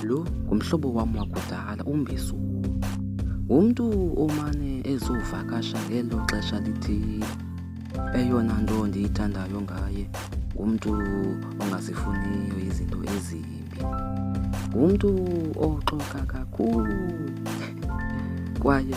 Lo ngumhlobo wam wakudala uMbisuku. Ngumntu omane ezovakasha ngelo xesha lithile. Eyona nto ndiyithandayo ngaye ngumntu ongazifuniyo izinto ezimbi. Ngumntu oxoka kakhulu kwaye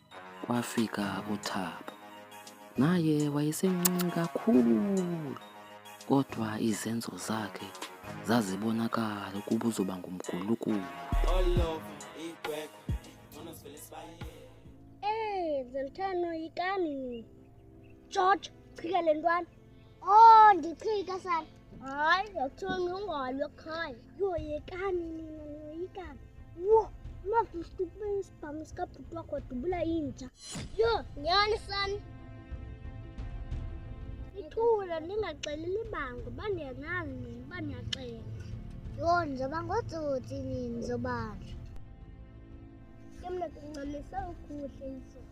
Kwafika uThabo. Naye wayesemncinci kakhulu, kodwa izenzo zakhe zazibonakala ukuba uzoba ngumgulukudu. Hey, Zoltano, yikani. George, chika le ntwana. Oh, ndichika sana. Hayi, yokuthiwa ngingalo khaya. Yoyekani nina noyikani. Wo, mafisitupesi. pamusika bhuti wakho wadubula inja yho nyani sani ithula ndingaxeleli bango uba ndiyazazi nini uba ndiyaxela yho ndizoba ngotsotsi nini zobanjwa ke mna kunxamisa ukuhle izona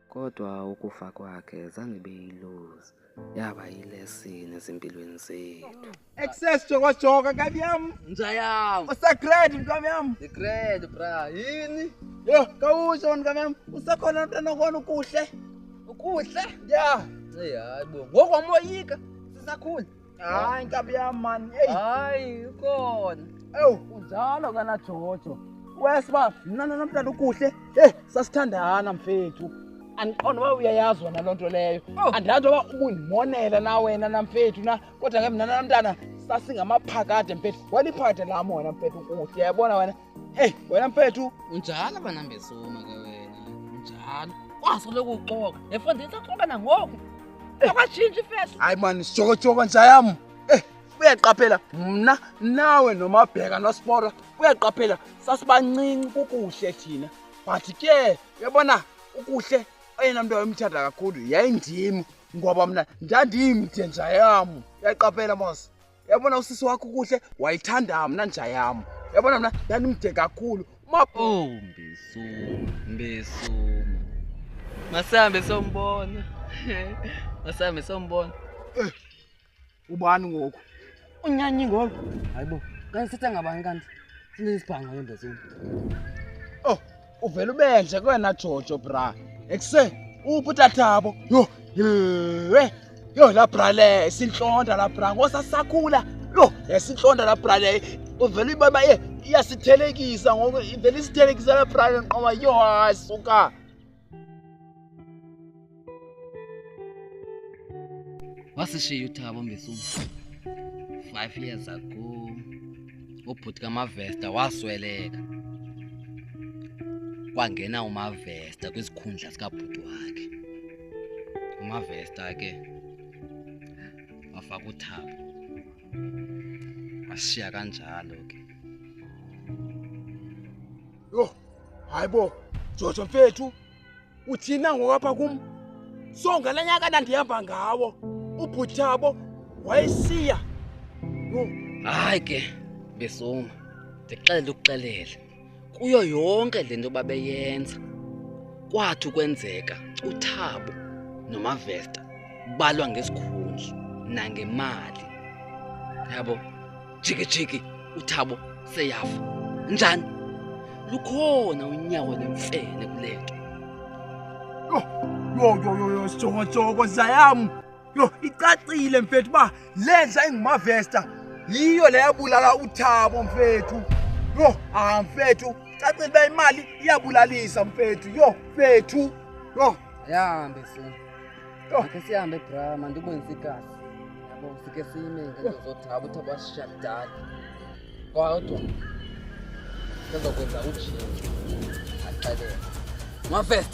Kodwa ukufa kwakhe zange ibe yiluzi, yaba yilesini ezimpilweni zethu. Excess jokojoka nkabi yam. Nja yam. Usagrade mkabi yam. Ndigrade bra. Yini? Yho, kawusho wena mkabi yam. Usekhona mntana okona ukuhle. Ukuhle? Ya. Eyi hayi bo. Ngoku wamoyika sisakhula. Hayi nkabi yam mani. Eyi. Hayi ukhona. Ewu. Unjalo kana Jojo. Wes uba mna nomntana ukuhle. Hey sasithandana mfethu. Andiqonda uba uyayazi wena loo nto leyo. Oh. Andilazi uba ubundimonela na wena namfethu na kodwa ke mna nomntana sasingamaphakade mfethu. Waliphakade lam wena mfethu ukuhle. Yabona wena Hey, wena mfethu. Unjalo bana mbesuma ke wena. Unjalo. Waso lokuxoka. Efundisa xoka nangoku. Akashintsha ifeso. Hayi man, sijokojoka nja yam. Eh, uyaqaphela mna nawe nomabheka nospora. Uyaqaphela sasibancinci kukuhle thina. But ke uyabona ukuhle oyena mntu wayemthanda kakhulu yayindim ngoba mna ndandimde nja yam. Uyaqaphela mos. yabona usisi wakho kuhle wayithanda mna nja yam yabona mna ndandimde kakhulu oh mbesuma mbesuma masihambe sombona masihambe sombona eh, ubani ngoku unyanyi ngoku hayibo kanti sithe ngabani kanti sinezibhango yembesuma oh uvele ubenje kwena jojo bra ekuse uphi utathabo yho yhe yho la bra le sintlonda la bra ngosasakhula yho yasintlonda la bra le uvele uyibona ye iyasithelekisa ngoku ivele isithelekisa la bra le nqoba yho hayi suka wasishiya uthabo mbesuma five years ago ubhuti kamavesta wasweleka kwangena umavesta kwisikhundla sikabhuti wakhe umavesta ke wafaka uthabo washiya kanjalo ke yho hayi bo jojo mfethu uthina ngokwapha kum so ngala nyaka ndandihamba ngawo ubhuthabo wayesiya yho hayi ke besoma ndixele ukuxelele kuyo yonke le nto babeyenza kwathi ukwenzeka uthabo nomavesta balwa ngesikhundla nangemali yabo jikijiki uthabo seyafa njani lukhona unyawo nemfene kule nto yho yho yho yho sijongojongo zayam yho icacile mfethu uba le ndla ingumavesta yiyo le yabulala uthabo mfethu yho ah mfethu cacile uba imali iyabulalisa mfethu yho mfethu yho ayihambe funi Ake sihambe bra, mandikwenze igazi. Yabo sike sime ngenzothi ngabo uthi abasisha kudala. Kodwa ngizokwenza ujini. Axelele. Mafest.